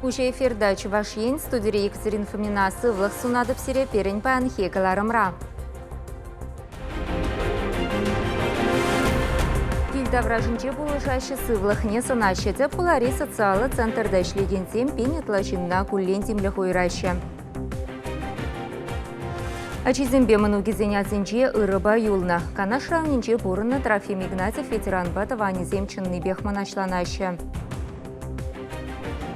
Пуҫ эфирта Чӑваш Ен студири Екатерина Фомина сывлӑх сунатӑп сире пирӗн паянхи кӑларӑмра. Кил таврашӗнче пулӑшаҫҫӗ, сывлӑхне сӑнаҫҫӗ. Тӗп хулари социаллӑ центрта ӗҫлекенсем пин ытла ҫынна куллен тимлӗх уйӑраҫҫӗ. Ачисемпе мӑнукӗсен асӗнче ырӑпа юлнӑ. Канаш районӗнче пурӑннӑ Трофим Игнатьев ветеранпа тӑванӗсем чӑннипех мӑнаҫланаҫҫӗ.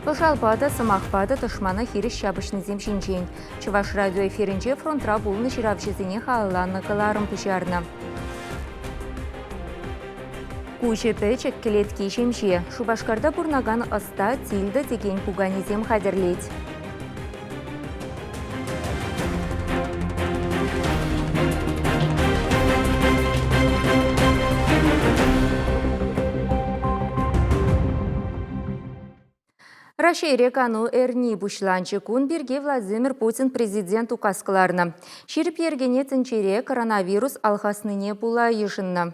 Пӑшалпа та, сӑмахпа та тӑшмана хирӗҫ ҫапӑҫнисем ҫинчен Чӑваш радио эфирӗнче фронтра пулнӑ ҫыравҫӑсене халалланӑ кӑларӑм пуҫарнӑ. Куҫӗ пӗчӗк, кӗлетки ҫемҫе. Шупашкарта пурӑнакан ӑста Тильда текен пуканесем хатӗрлет. Раҫҫейре кану эрни пуҫланчӗ кун пирки Владимир Путин президент указ кӑларнӑ. Ҫирӗп йӗркене тӗнчере коронавирус алхаснине пула йышӑннӑ.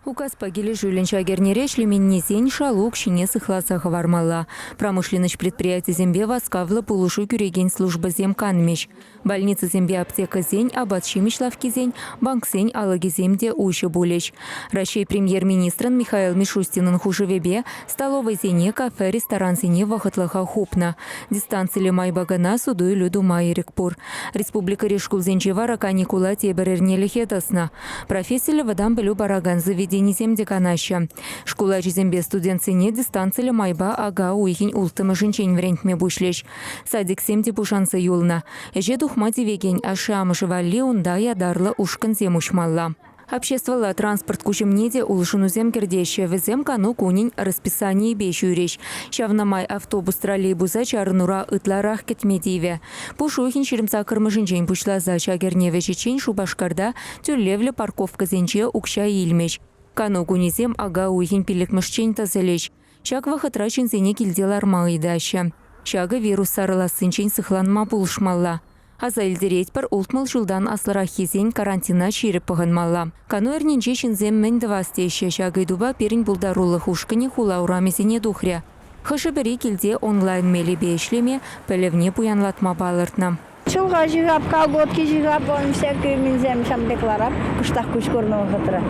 Указпа килӗшӳллӗн ҫак эрнере ӗҫлеменнисен шалу укҫине сыхласа хӑвармалла. Промышленноҫ предприятисемпе васкавлӑ пулӑшу кӳрекен службӑсем канмӗҫ. Больницӑсемпе аптекӑсен, апат-ҫимӗҫ лавккисен, банксен алӑкӗсем те уҫӑ пулӗҫ. Раҫҫей Премьер-министрӑн Михаил Мишустинӑн хушӑвӗпе Столовӑйсене, кафе, ресторансене вӑхӑтлӑха хупнӑ. Дистанциллӗ майпа кӑна суту-илӳ тума ирӗк пур. Республикӑри шкулсенче вара каникула тепӗр эрнелӗхе тӑснӑ. Профессиллӗ вӑтам пӗлӳ паракан заведенисем те канаҫҫӗ. Шкул ачисемпе студентсене дистанциллӗ майпа ака уйӑхӗн улттӑмӗшӗнчен вӗрентме пуҫлӗҫ. Садиксем те пушанса юлнӑ. Ӗҫе тухма тивекен ашшӗ-амӑшӗ валли унта ятарлӑ ушкӑнсем уҫмалла. Обществӑлла транспорт куҫӑмне те улшӑнусем кӗртеҫҫӗ. Вӗсем кану кунӗн расписанийӗпе ҫӳрӗҫ. Ҫавна май автобус троллейбуса чарӑнура ытларах кӗтме тивӗ. Пушухин ҫирӗмсаккӑрмӗшӗнчен пуҫласа ҫак эрне вӗҫӗччен Шупашкарта тӳлевлӗ парковкӑсенче укҫа илмӗҫ. Кану кунӗсем ака уйӑхӗн пиллӗкмӗшчен тӑсӑлӗҫ. Ҫак вӑхӑтра ҫынсене килте ларма ыйтаҫҫӗ. Ҫакӑ вирус сарӑлассинчен сыхланма пулӑшмалла. Аса илтеретпӗр, ултмӑл ҫултан аслӑраххисен карантина ҫирӗп пӑхӑнмалла. Кану эрнинче ҫынсем мӗн тӑвас теҫҫӗ, ҫак ыйтупа пирӗн пултарулӑх ушкӑнӗ хула урамӗсене тухрӗ. Хӑшӗ-пӗри килте онлайн мелӗпе ӗҫлеме, пӗлӗвне пуянлатма палӑртнӑ. Чулха ҫыхап, колготки ҫыхап, он всякие минсем шампекларах кӑштах куҫ курнӑ вӑхӑтра.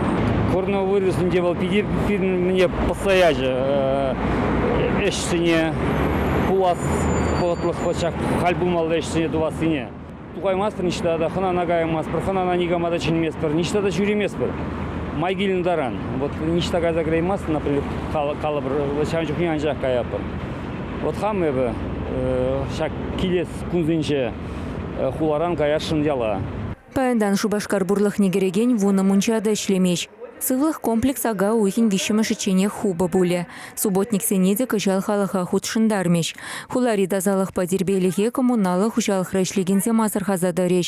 Курнӑ вырӑсенче вӑл питӗ мӗне пӑсса ячӗ ӗҫсене пулас вӑхӑтлӑх ҫак халь пулмалла ӗҫсене тӑвассине. Тукаймастпӑр ниҫта та, хӑнана каямастпӑр, хӑнана никама та чӗнместпӗр, ниҫта та ҫӳреместпӗр. Май килнӗ таран. Вот ниҫта кайса кӗреймастӑн, например, калӑпӑр, ҫавӑн чухне анчах каятпӑр. Вот хам эпӗ ҫак килес кунсенче хуларан каясшӑн яла. Паянтан Шупашкар пурлӑхне кӗрекен вунӑ мунча та ӗҫлемест. Сывлӑх комплекс ака уйӑхӗн виҫҫӗмӗшӗчченех хупӑ пулӗ. Субботниксене те кӑҫал халӑха хутшӑнтармӗҫ. Хулари тасалӑхпа тирпейлӗхе коммуналлӑ хуҫалӑхра ӗҫлекенсем асӑрхаса тӑрӗҫ.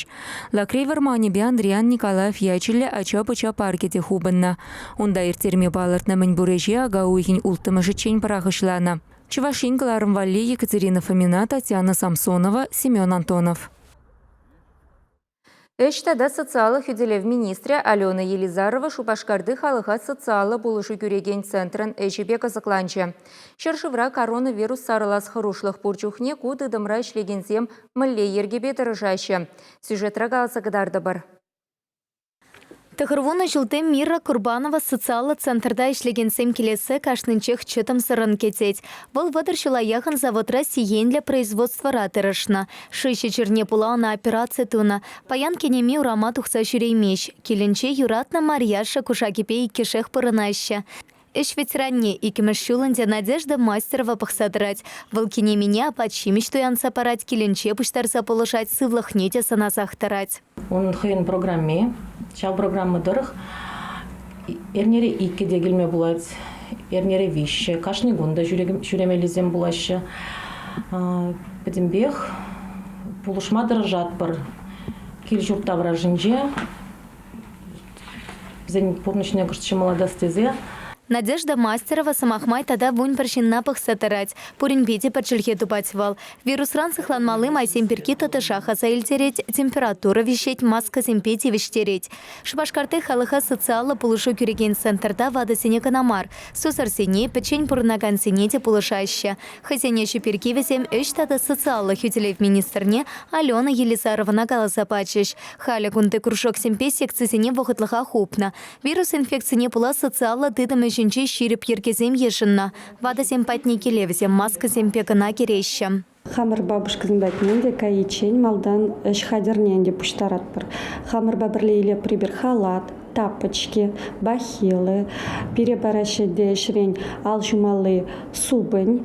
Лакрей вӑрманӗпе Андриян Николаев ячӗллӗ ача-пӑча паркӗ те хупӑннӑ. Унта ирттерме палӑртнӑ мӗнпур ӗҫе ака уйӑхӗн улттӑмӗшӗччен пӑрахӑҫланӑ. Чӑваш Ен кӑларӑм валли Екатерина Фомина, Татьяна Самсонова, Семен Антонов. Ӗҫ тата социаллӑ хӳтӗлев министрӗ Алена Елизарова Шупашкарти халӑха социаллӑ пулӑшу кӳрекен центрӑн ӗҫӗпе кӑсӑкланчӗ. Ҫӗршывра коронавирус сарӑлас хӑрушлӑх пур чухне ку тытӑмра ӗҫлекенсем мӗнле йӗркепе тӑрӑшаҫҫӗ? Сюжетра каласа кӑтартӑпӑр. Тӑхӑрвунӑ ҫулти Мира Курбанова социаллӑ центрта ӗҫлекенсем килессе кашнинчех чӑтӑмсӑррӑн кӗтет. Вӑл вӑтӑр ҫула яхӑн заводра сиенлӗ производствӑра тӑрӑшнӑ. Шыҫӑ чирне пула ӑна операци тунӑ. Паян кинеми урама тухса ҫӳреймест. Килӗнче юратнӑ Марьяша кушакӗпе иккӗшех пурӑнаҫҫӗ. Ӗҫ ветеранне иккӗмӗш ҫул ӗнтӗ Надежда Мастерова пӑхса тӑрать. Вӑл кинемене апат-ҫимӗҫ туянса парать, килӗнче пуҫтарса пулӑшать, сывлӑхне те сӑнасах тӑрать. Унӑн хӑйӗн программи. Ҫав программа тӑрӑх эрнере иккӗ те килме пулать, эрнере виҫҫӗ. Кашни кун та ҫӳремеллисем пулаҫҫӗ. Пӗтӗмпех пулӑшма тӑрӑшатпӑр кил-ҫурт таврашӗнче Вӗсен пурнӑҫне кӑшт ҫӑмӑллатас тесе Надежда Мастерова сӑмах май тата вунпӗр ҫынна пӑхса тӑрать. Пуринпе те пӗр чӗлхе тупать вӑл. Вирусран сыхланмалли майсем пирки тӑтӑшах аса илтерет, температура виҫет, маскӑсемпе тивӗҫтерет. Шупашкарти халӑха социаллӑ пулӑшу кӳрекен центрта ватӑсене кӑна мар, сусӑрсене, пӗччен пурӑнакансене те пулӑшаҫҫӗ. Хӑйсен ӗҫӗ пирки вӗсем ӗҫ тата социаллӑ хӳтӗлев министрне Алена Елизарована каласа пачӗҫ. Халӗ кунти кружоксемпе секцисене вӑхӑтлӑха хупнӑ. Вирус инфекцине пула социаллӑ тытӑм ӗҫӗнче ҫирӗп йӗркесем йышӑннӑ. Ватӑсем патне киле вӗсем маскӑсемпе кӑна кӗреҫҫӗ. Хамӑр бабушкӑсем патне те кайиччен малтан ӗҫ хатӗрне ӗнтӗ пуҫтаратпӑр. Хамӑрпа пӗрле илеприбер халат, тапочки, бахилы, пире параҫҫӗ те ӗҫрен ал ҫумалли супӑнь.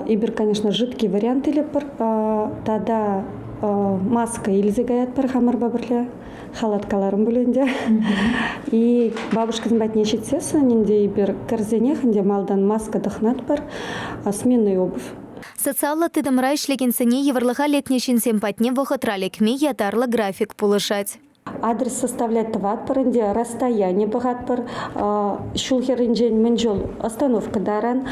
Эпир, конечно, жидкий вариант илӗпӗр. Тата маска илсе каятпӑр хамӑрпа пӗрле. Халаткаларӑм пулин те. И бабушкӑсем патне ҫитсессӗн ӗнтӗ эпир кӗрсенех ӗнтӗ малтан маска тӑхнатпӑр, сменную обувь. Социаллӑ тытӑмра ӗҫлекенсене йывӑрлӑха лекнӗ ҫынсем патне вӑхӑтра лекме ятарлӑ график пулӑшать. Адрес составлять тӑватпӑр ӗнтӗ, расстояние пӑхатпӑр. Ҫул хӗрринчен мӗн чул остановка таран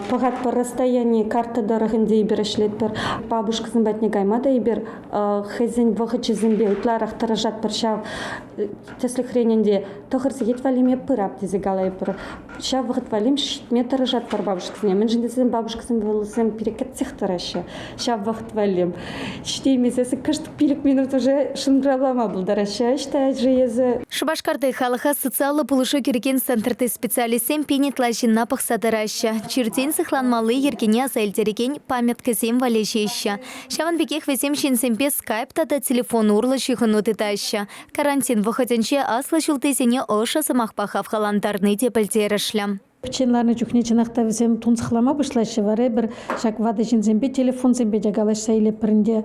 пӑхатпӑр расстояни карта тӑрӑх ӗнтӗ эпир ӗҫлетпӗр. Бабушкӑсем патне кайма та эпир хӑйсен вӑхӑчӗсемпе ытларах тӑрӑшатпӑр ҫав. Тӗслӗхрен ӗнтӗ тӑхӑр сехет валли пырап тесе калатпӑр. Ҫав вӑхӑт валли ҫитме тӑрӑшать папашкӑсене. Мӗншӗн тесен бабушкӑсем вӑйлӑсем пире кӗтсех тӑраҫҫӗ. Ҫав вӑхӑт валли ҫитеймесе кӑшт пилӗк минут уже шӑнкӑравлама пултараҫҫӗ ӑҫта же эсӗ. Шупашкарти халӑха социаллӑ пулӑшу кӳрекен центрти специалистсем пин ытла ҫынна пӑхса тӑраҫҫӗ, чиртен сыхланмалли йӗркене аса илтерекен памяткӑсем валеҫеҫҫӗ. Ҫавӑн пекех вӗсем ҫынсемпе скайп тата телефон урлӑ ҫыхӑну тытаҫҫӗ, Карантин вӑхӑтӗнче аслӑ ҫултисене ӑшӑ сӑмахпа хавхалантарни те пӗлтерӗшлӗ. Пӗччен ларнӑ чухне чӑнах та вӗсем тунсӑхлама пуҫлаҫҫӗ, вара эпир ҫак ватӑ ҫынсемпе, телефонсемпе те калаҫса илӗпӗр ӗнтӗ.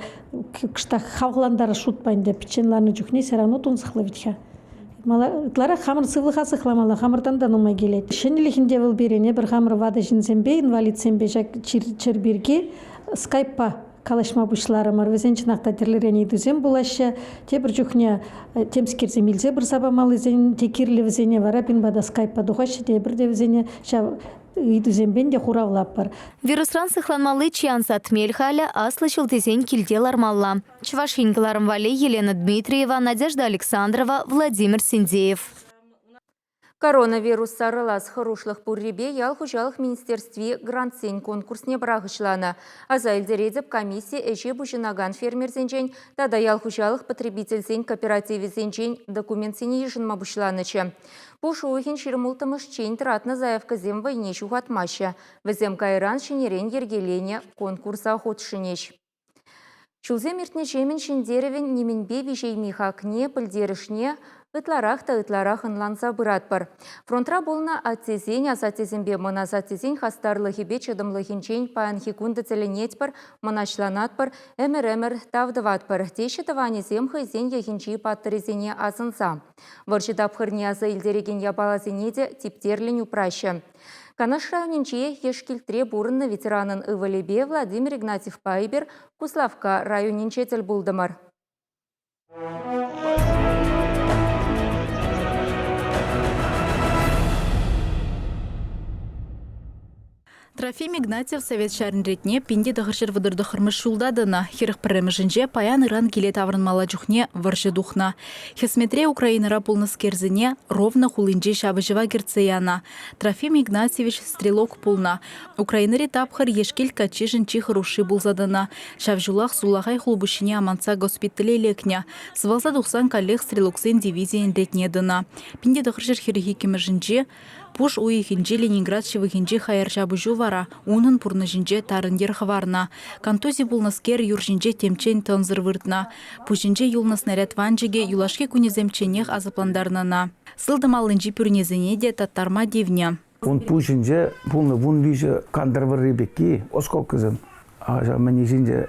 Кӑштах хавхалантарас шутпа ӗнтӗ пӗччен ларнӑ чухне все равно тунсӑхлӑ вӗт-ха. Ытларах хамӑр сывлӑха сыхламалла, хамӑртан та нумай килет. Ҫӗнӗлӗхӗн те вӑл пирӗн, эпир хамӑр ватӑ ҫынсемпе, инвалидсемпе ҫак чир пирки скайппа калаҫма пуҫларӑмӑр. Вӗсен чӑнах та тӗрлӗрен ыйтусем пулаҫҫӗ. Тепӗр чухне э, темскерсем илсе пырса памаллисен те кирлӗ вӗсене вара пинпа та скайпа тухаҫҫӗ тепӗр те вӗсене ҫав ыйтусемпен те хуравлатпӑр. Вирусран сыхланмалли чи ансат мел халӗ аслӑ ҫул тесен килте лармалла. Чӑваш Ен кӑларӑм валли Елена Дмитриева, Надежда Александрова, Владимир Синдеев. Коронавирус сарӑлас хӑрушлӑх пуррипе ял хуҫалӑх министерстви грантсен конкурсне пӑрахӑҫланӑ. Аса илтеретӗп, комисси ӗҫе пуҫӑнакан фермерсенчен тата ял хуҫалӑх потребительсен кооперативӗсенчен документсене йышӑнма пуҫланӑччӗ. Пуш уйӑхӗн ҫырмулттӑмӗшчен тӑратнӑ заявкӑсем вӑйне ҫухатмаҫҫӗ. Вӗсем кайран ҫӗнӗрен йӗркеленӗ конкурса хутшӑнӗҫ. Ҫулсем иртнӗҫемӗн ҫӗнтерӗвӗн нимӗнпе виҫейми хакне, пӗлтерӗшне ытларах та ытларах ӑнланса пыратпӑр. Фронтра пулнӑ аттесен, асаттесемпе мӑн асаттесен хастарлӑхӗпе чӑтӑмлӑхӗнчен паянхи кун та тӗлӗнетпӗр, мӑнаҫланатпӑр, ӗмӗр-ӗмӗр тав тӑватпӑр, теҫҫӗ тӑванӗсем хӑйсен йӑхӗнчи паттӑрӗсене асӑнса. Вӑрҫӑ тапхӑрне аса илтерекен япаласене те типтерлӗн упраҫҫӗ. Канаш районӗнче Ешкилтре пурӑннӑ ветеранӑн ывӑлӗпе Владимир Игнатьевпа эпир Куславкка районӗнче тӗл пултӑмӑр. Трофим Игнатьев Совет ҫарӗн ретне пин тӑхӑрҫӗр вӑтӑр тӑххӑрмӗш ҫулта тӑнӑ. Хӗрӗх пӗрремӗшӗнче паян ыран киле таврӑнмалла чухне вӑрҫӑ тухнӑ. Хӗсметре Украинӑра пулнӑскерсене Ровно хулинче ҫапӑҫӑва кӗртсе янӑ. Трофим Игнатьевич стрелок пулнӑ. Украинӑри тапхӑр Ешкил каччишӗн чи хӑрушши пулса тӑнӑ. Ҫав ҫулах сулахай хулпуҫҫине амантса госпитале лекнӗ. Сывалса тухсан каллех стрелоксен дивизийӗн ретне тӑнӑ. Пинте тӑхӑрҫӗр хӗрӗх иккӗмӗшӗнче Пуш уйӑхӗнче Ленинград ҫывӑхӗнчи хаяр ҫапӑҫу вара унӑн пурнӑҫӗнче тарӑн йӗр хӑварнӑ. Контузи пулнӑскер юр ҫинче темччен тӑнсӑр выртнӑ. Пуҫӗнче юлнӑ снаряд ванчӑкӗ юлашки кунӗсемчченех асаплантарнӑ. Сылтӑм аллинчи пӳрнесене те таттарма тивнӗ. Ун пуҫӗнче пулнӑ вун виҫӗ кантӑр вӑрри пекки, осколкӑсем, ҫав мӗнни ҫинче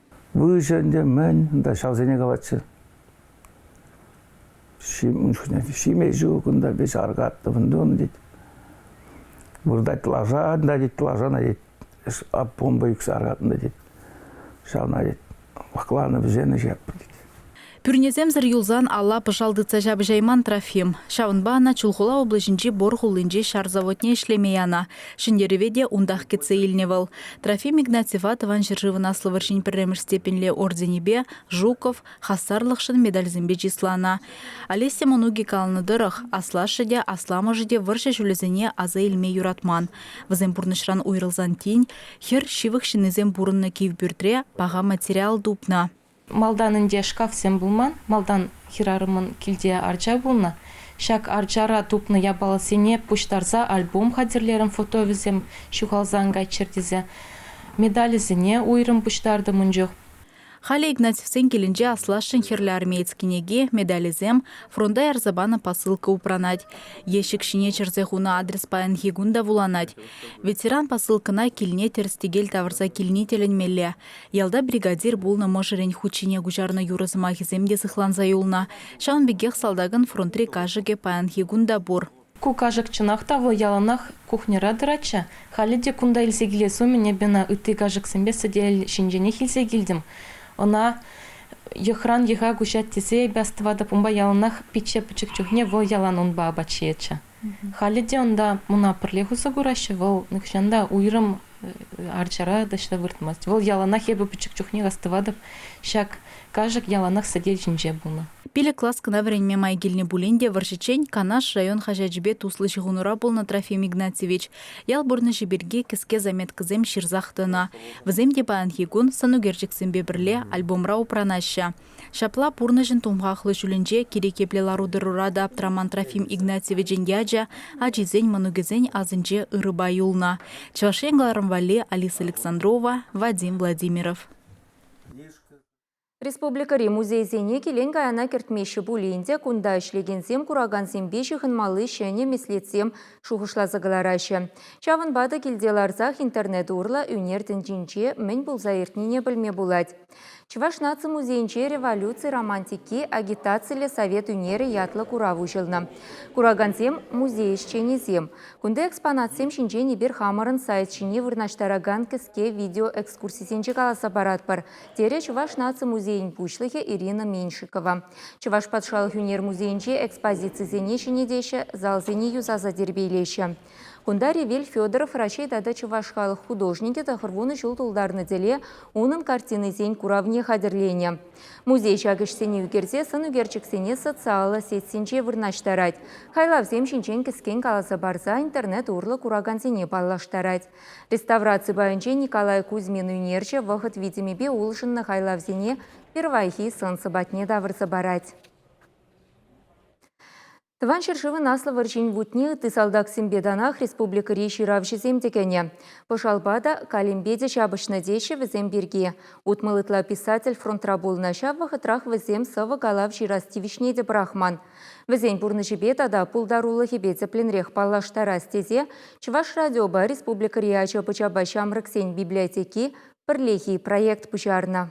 Выҫӑ ӗнтӗ, мӗн, унта ҫавсене калатчӗ. Ҫим, ун чухне ҫиме ҫук, унта вӗҫ аркаттӑм ӗнтӗ, тет. Выртать лаша, ӑнта, тет, лашана, тет, помпа ӳксе аркатнӑ, тет. Ҫавна, тет, вакланӑ вӗсен ӗҫ яппи, тет. Пӳрнесемсӗр юлсан алла пӑшал тытса ҫапӑҫайман Трофим. Ҫавӑнпа ӑна Чулхула облаҫӗнчи Бор хулинчи ҫар заводне ӗҫлеме янӑ. Ҫӗнтерӗве те унтах кӗтсе илнӗ вӑл. Трофим Игнатьева Тӑван ҫӗршывӑн Аслӑ вӑрҫин пӗрремӗш степеньле орденӗпе, Жуков, хастарлӑхшӑн медальсемпе чысланӑ. Олеся мӑнукӗ каланӑ тӑрӑх, аслашшӗ те, асламӑшӗ те вӑрҫӑ ҫулӗсене аса илме юратман. Вӗсем пурнӑҫран уйрӑлсан тин, хӗр, ҫывӑх ҫыннисем пурӑннӑ кив пӳртре, паха материал тупнӑ. Малтан ӗнтӗ шкафсем пулман, малтан хӗрарӑмӑн килте арча пулнӑ. Ҫак арчара тупнӑ япаласене пуҫтарса альбом хатӗрлерӗм, фотовӗсем ҫухалсан кайччӑр тесе. Медалӗсене уйрӑм пуҫтартӑм ун чух. Халӗ Игнатьевсен килӗнче аслашшӗн хӗрлӗ армеец кӗнеки, медалӗсем, фронта ярса панӑ посылка упранать. Ещӗк ҫине чӗрсе хунӑ адрес паянхи кун та вуланать. Ветеран посылкӑна килне тӗрӗс-тӗкел тавӑрса килни тӗлӗнмелле. Ялта бригадир пулнӑ мӑшӑрӗн хут ҫине куҫарнӑ юрӑ сӑмахӗсем те сыхланса юлнӑ. Ҫавӑн пекех салтакӑн фронтри кашӑкӗ паянхи кун та пур. Ку кашӑк чӑнах та вӑл яланах кухньӑра тӑратчӗ. Халӗ те кунта илсе килес умӗн эпӗ ӑна ытти кашӑксемпе сӗтел ҫинченех илсе килтӗм. Ӑна йӑхран йӑха куҫать тесе эпӗ астӑватӑп, унпа яланах пичче пӗчӗк чухне вӑл ялан унпа апат ҫиетчӗ. Халӗ те унта муна пӗрлех усӑ кураҫҫӗ. Вӑл нихӑҫан та уйрӑм арчара таҫта выртмасть. Вӑл яланах эпӗ пӗчӗк чухнех астӑватӑп ҫак кашӑк яланах сӗтел ҫинче пулнӑ. Пилӗк класс кӑна вӗренме май килнӗ пулин те вӑрҫӑччен Канаш район хаҫачӗпе туслӑ ҫыхӑнура пулнӑ Трофим Игнатьевич ял пурнӑҫӗ пирки кӗске заметкӑсем ҫырсах тӑнӑ. Вӗсем те паянхи кун сӑнӳкерчӗксемпе пӗрле альбомра упранаҫҫӗ. Ҫапла пурнӑҫӑн тумхахлӑ ҫулӗнче кирек епле лару-тӑрура та аптраман Трофим Игнатьевичӑн ячӗ ачисен, мӑнукӗсен асӗнче ырӑпа юлнӑ. Чӑваш Ен кӑларӑм валли Алиса Александрова, Вадим Владимиров. Республикӑри музейсене килен-каяна кӗртмеҫҫӗ пулин те кунта ӗҫлекенсем куракансемпе ҫыхӑнмалли ҫӗнӗ меслетсем шухӑшласа кӑлараҫҫӗ. Ҫавӑнпа та килте ларсах интернет урлӑ ӳнер тӗнчинче мӗн пулса иртнине пӗлме пулать. Чӑваш наци музейӗнче «Революци романтики агитациллӗ совет ӳнерӗ» ятлӑ курав уҫӑлнӑ. Куракансем – музей ӗҫченӗсем. Кунти экспонатсем ҫинчен эпир хамӑрӑн сайт ҫине вырнаҫтаракан кӗске видеоэкскурсисенче каласа паратпӑр, терӗ Чӑваш наци музейӗн пуҫлӑхӗ Ирина Меньшикова. Чӑваш патшалӑх ӳнер музейӗнче экспозицисене ҫӗнетеҫҫӗ, залсене юсаса тирпейлеҫҫӗ. Кунта Ревель Федоров Раҫҫей тата чӑваш халӑх художникӗ тӑхӑр вунӑ ҫул тултарнӑ тӗле унӑн картинисен куравне хатӗрленӗ. Музей ҫак ӗҫсене ӳкерсе сӑн ӳкерчӗксене социаллӑ сетьсенче вырнаҫтарать, хайлавсем ҫинчен кӗскен каласа парса интернет урлӑ куракансене паллаштарать. Реставраци пайӗнче Николай Кузьмин ӳнерҫӗ вӑхӑт витӗмӗпе улшӑннӑ хайлавсене пирвайхи сӑн-сӑпатне тавӑрса парать. Тӑван ҫӗршывӑн Аслӑ вӑрҫин вутне ытти салтаксемпе танах республикӑри ҫыравҫӑсем те кӗнӗ. Пӑшалпа та, калемпе те ҫапӑҫнӑ теҫҫӗ вӗсем пирки. Утмӑл ытла писатель фронтра пулнӑ, ҫав вӑхӑтрах вӗсем сӑвӑ калав ҫырас тивӗҫне те пӑрахман. Вӗсен пурнӑҫӗпе тата пултарулӑхӗпе тӗплӗнрех паллаштарас тесе Чӑваш радиопа республикӑри ача-пӑчапа ҫамрӑксен библиотеки пӗрлехи проект пуҫарнӑ.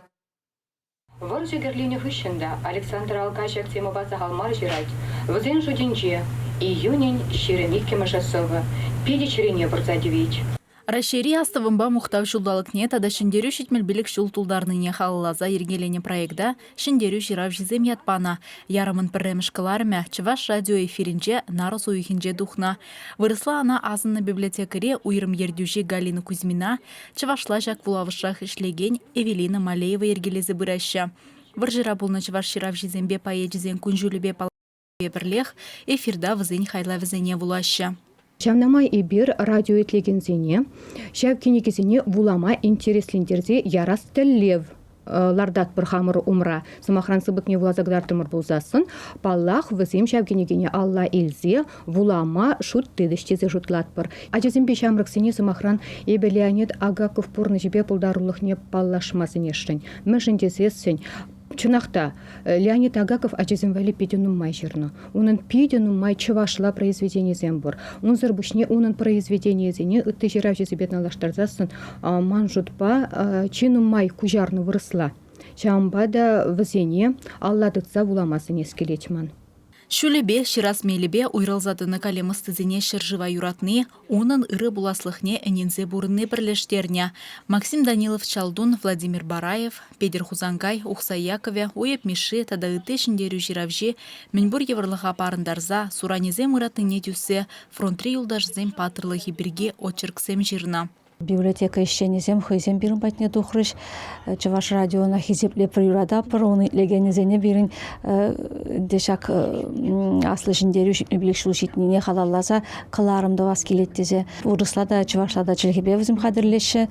Вӑрҫӑ кӗрленӗ хыҫҫӑн та Александр алкаҫӑк темӑпа сахал мар ҫырать. Вӗсен шутӗнче, июнӗн ҫирӗм иккӗмӗшӗ сӑвӑ питӗ чӗрене пырса тивет. Раҫҫейри Астӑвӑмпа мухтав ҫулталӑкне тата Ҫӗнтерӳ ҫитмӗл пилӗк ҫул тултарнине халалласа йӗркеленӗ проекта Ҫӗнтерӳ ҫыравҫисем ят панӑ. Ярӑмӑн пӗрремӗш кӑларӑмӗ Чӑваш радио эфирӗнче нарӑс уйӑхӗнче тухнӑ. Вырӑсла ӑна асӑннӑ библиотекари уйрӑм ертӳҫи Галина Кузьмина Чӑвашла ҫак вулавӑшрах ӗҫлекен Эвелина Малеева йӗркелесе пыраҫҫӗ. Вӑрҫӑра пулнӑ чӑваш ҫыравҫисемпе поэчӗсен кун-ҫулӗпе паллашнипе пӗрлех эфирта вӗсен хайлавӗсене вулаҫҫӗ. Ҫавна май эпир радио итлекенсене ҫав кӗнекесене вулама интереслентерсе ярас тӗллев лартатпӑр хамӑр умра. Сӑмахран, сыпӑкне вуласа кӑтартрӑмӑр пулсассӑн, паллах, вӗсем ҫав кӗнекене алла илсе вулама шут тытӗҫ тесе шутлатпӑр. Ачасемпе ҫамрӑксене, сӑмахран, эпӗ Леонид Агаков пурнӑҫӗпе пултарулӑхне паллашма сӗнесшӗн. Мӗншӗн тесессӗн чӑнах та Леонид Агаков ачасем валли питӗ нумай ҫырнӑ. Унӑн питӗ нумай чӑвашла произведенисем пур. Унсӑр пуҫне унӑн произведенийӗсене ытти ҫыравҫӑсемпе танлаштарсассӑн ман шутпа чи нумай куҫарнӑ вырӑсла. Ҫавӑнпа та вӗсене алла тытса вулама сӗнес килет ман. Ҫулӗпе, ҫырас мелӗпе уйрӑлса тӑнӑ калем ӑстисене ҫӗршыва юратни, Унӑн ырӑ пуласлӑхне ӗненсе пурӑнни пӗрлештернӗ. Максим Данилов Чалтун, Владимир Бараев, Петӗр Хусанкай, Ухсай Якове, Уйӑп Мишши тата ытти ҫӗнтерӳ ҫыравҫи мӗнпур йывӑрлӑха парӑнтарса, суранӗсем ыратнине тӳссе фронтри юлташӗсен паттӑрлӑхӗ пирки очерксем ҫырнӑ. Библиотека ӗҫченӗсем хӑйсем пирӗн патне тухрӗҫ. Чӑваш радиона хисепле приюратпӑр. Ун итлекенӗсене пирӗн те ҫак аслӑ ҫӗнтерӳ ҫитмӗпелех ҫул ҫитнине халалласа кӑларӑм тӑвас килет тесе вырӑсла та, чӑвашла та чӗлхепе вӗсем хатӗрлеҫҫӗ.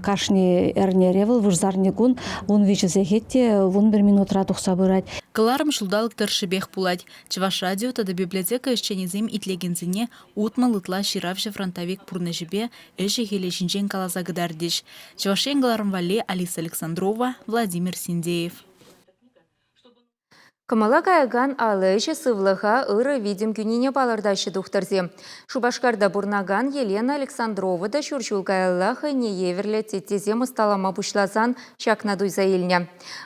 Кашни эрнере вӑл вырсарни кун ун виҫӗ сехет те вун пӗр минутра тухса пырать. Кӑларӑм ҫулталӑк тӑршшӗпех пулать. Чӑваш радио тата библиотека ӗҫченӗсем итлекенсене Утмӑл ытла ҫыравҫӑ фронтовик пурнӑҫӗпе ӗҫӗ-хӗлӗ ҫинчен каласа кӑтартӗҫ Чӑваш Ен голарӑн валли Алиса Александрова, Владимир Синдеев. Кӑмӑла каякан ал ӗҫӗ сывлӑха ырӑ витӗм кӳнине палӑртаҫҫӗ тухтӑрсем. Шупашкарта пурӑнакан Елена Александрова та ҫур ҫул каялла хӑйне евӗрлӗ теттесем ӑсталама пуҫласан ҫакна туйса илнӗ.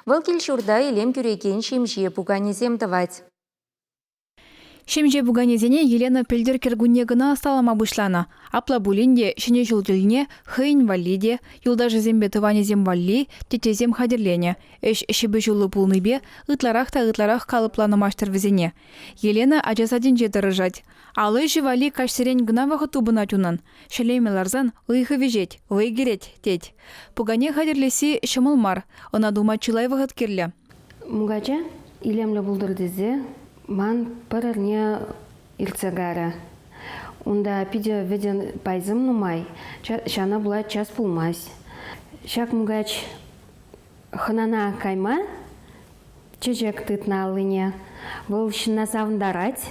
Вӑл кил-ҫурта илем кӳрекен ҫемҫе пуканесем тӑвать. Ҫемҫе пуканесене Елена пӗлтӗр кӗркунне кӑна ӑсталама пуҫланӑ. Апла пулин те ҫӗнӗ ҫул тӗлне хӑйӗн валли те, юлташӗсемпе тӑванӗсем валли теттесем хатӗрленӗ. Ӗҫ ҫыпӑҫуллӑ пулнипе ытларах та ытларах калӑпланӑ маҫтӑр вӗсене. Елена ача садӗнче тӑрӑшать. Ал ӗҫӗ валли каҫсерен кӑна вӑхӑт тупӑнать унӑн. Ҫӗлеме ларсан ыйхӑ вӗҫет, вӑй кӗрет, тет. Пукане хатӗрлесси ҫӑмӑл мар, ӑна тума чылай вӑхӑт кирлӗ. Мукача илемлӗ пултӑр тесе ман пӗр эрне иртсе кайрӗ. Унта питӗ вӗтӗ пайсем нумай, ҫавна пула час пулмасть. Ҫак мукач хӑнана кайма чечек тытнӑ аллине. Вӑл ҫынна савӑнтарать.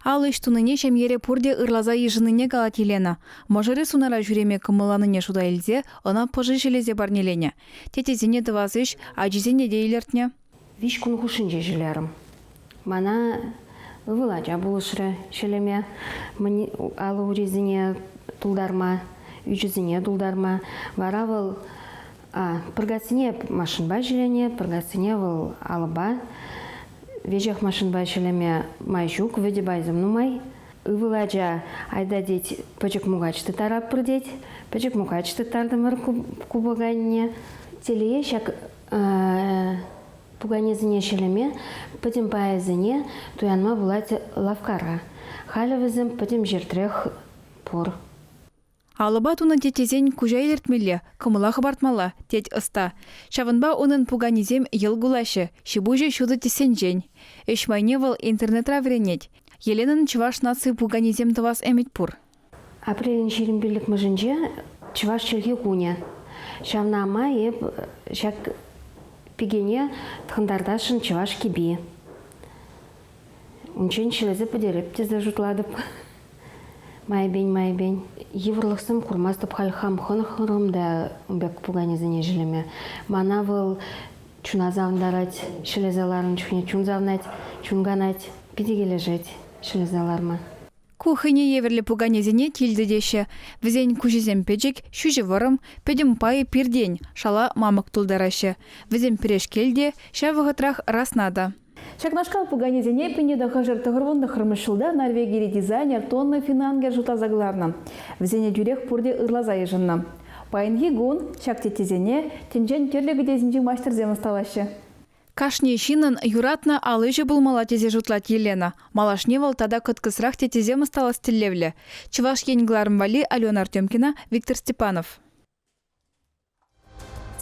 Ал ӗҫ тунине ҫемьере пурте ырласа йышӑннине калать Елена. Мӑшӑрӗ сунара ҫӳреме кӑмӑлланине шута илсе ӑна пӑши ҫӗлесе парнеленӗ. Тетесене тӑвас ӗҫ ачисене те илӗртнӗ. Виҫ кун хушшинче ҫӳлерӗм. Мана ывӑл ача пулӑшрӗ ҫӗлеме, алӑ-урисене тултарма, ӳчӗсене тултарма. Вара вӑл пӑркассине машинпа ҫӗленӗ, пӑркассине вӑл алӑпа, веҫех машинпа ҫӗлеме май ҫук. Вӗтӗ пайсем нумай. Ывӑл ача, айта тет, пӗчӗк мукач тыттаратпӑр тет. Пӗчӗк мукач тыттартӑмӑр купӑкайне. Телее, ҫак пуканесене ҫӗлеме пӗтӗм пайӗсене туянма пулать лавккара. Халӗ вӗсем пӗтӗм ҫӗртрех пур. Алӑпа тунӑ тет тесен куҫа илӗртмелле, кӑмӑла хӑпартмалла, тет ӑста. Ҫавӑнпа унӑн пуканисем йӑл кулаҫҫӗ, ҫипуҫӗ ҫутӑ тӗссенчен. Ӗҫ майне вӑл интернетра вӗренет. Еленӑн чӑваш наци пуканисем тӑвас ӗмӗт пур. Апрелӗн ҫирӗм пиллӗкмӗшӗнче чӑваш чӗлхи кунӗ. Ҫавна май эп ҫак пикене тхӑнтартасшӑн чӑваш кӗпи Унччен ҫӗлесе пӗтереп тесе шутлатӑп. Майӗпен-майӗпен йывӑрлӑхсем курмастӑп халь хам хӑнӑхрӑм та ун пек пуканесене ҫӗлеме. Мана вӑл чуна савӑнтарать, ҫӗлесе ларнӑ чухне чун савнать, чун канать, питӗ килӗшет ҫӗлесе ларма. Ку хӑйне евӗрлӗ пуканесене килтӗ теҫҫӗ. Вӗсен куҫӗсем пӗчӗк, ҫӳҫӗ вӑрӑм, пӗтӗм пайӗ пиртен, шала мамӑк тултараҫҫӗ. Вӗсем пӗрешкел те, ҫав вӑхӑтрах расна та. Ҫакнашкал пуканесене пӗрне тӑхӑршар-тӑхӑрвун тӑххӑрмӗш ҫулта Норвегири дизайнер тонна финангер шутласа кӑларнӑ. Вӗсене тӳрех пурте ырласа йышӑннӑ. Паянхи кун ҫак теттесене тӗнчен тӗрлӗ кӗтесӗнчи маҫтӑрсем ӑсталаҫҫӗ. Кашни ҫыннӑн юратнӑ ал ӗҫӗ пулмалла тесе шутлать Елена. Малашне вӑл тата кӑткӑсрах теттесем ӑсталас тӗллевлӗ. Чӑваш Ен кӑларӑм валли Алена Артемкина, Виктор Степанов.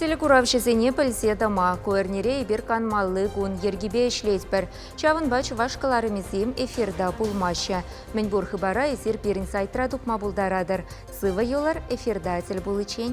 Телекуравҫӑсене пӗлсе тӑма ку эрнере эпир канмалли кун йӗркипе ӗҫлетпӗр. Ҫавӑнпа чӑваш кӑларӑмӗсем эфирта пулмаҫҫӗ. Мӗнпур хыпара эсир пирӗн сайтра тупма пултаратӑр. Сывӑ юлӑр эфирта тӗл пуличчен.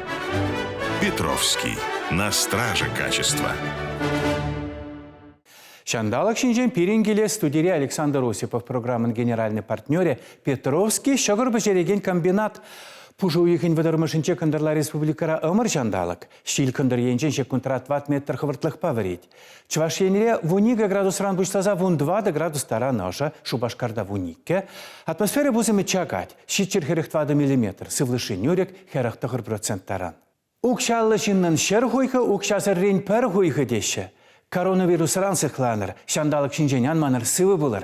Петровский. На страже качества. Ҫанталӑк ҫинчен пирӗн килес студири Александр Осипов программӑн генеральный партнерӗ Петровский ҫӑкӑр пӗҫерекен комбинат. Пушӑ уйӑхӗн вӑтӑрмӗшӗнче кӑнтӑрла республикӑра ӑмӑр ҫанталӑк. Ҫил кӑнтӑр енчен ҫеккунтран ват метр хӑвӑртлӑхпа вӗрет. Чӑваш Енре вун икӗ градусран пуҫласа вун тӑватӑ градус таран ӑшӑ, Шупашкарта вун иккӗ. Атмосфера пусӑмӗ чакать. Ҫиччӗр хӗрӗх тӑватӑ миллиметр, сывлӑшри нӳрӗк хӗрӗх тӑхӑр процент таран. Укҫаллӑ ҫыннӑн ҫӗр хуйхӑ укҫасӑррин пӗр хуйхӑ теҫҫӗ. Коронавирусран сыхланӑр, ҫанталӑк ҫинчен ан манӑр, сывӑ пулӑр.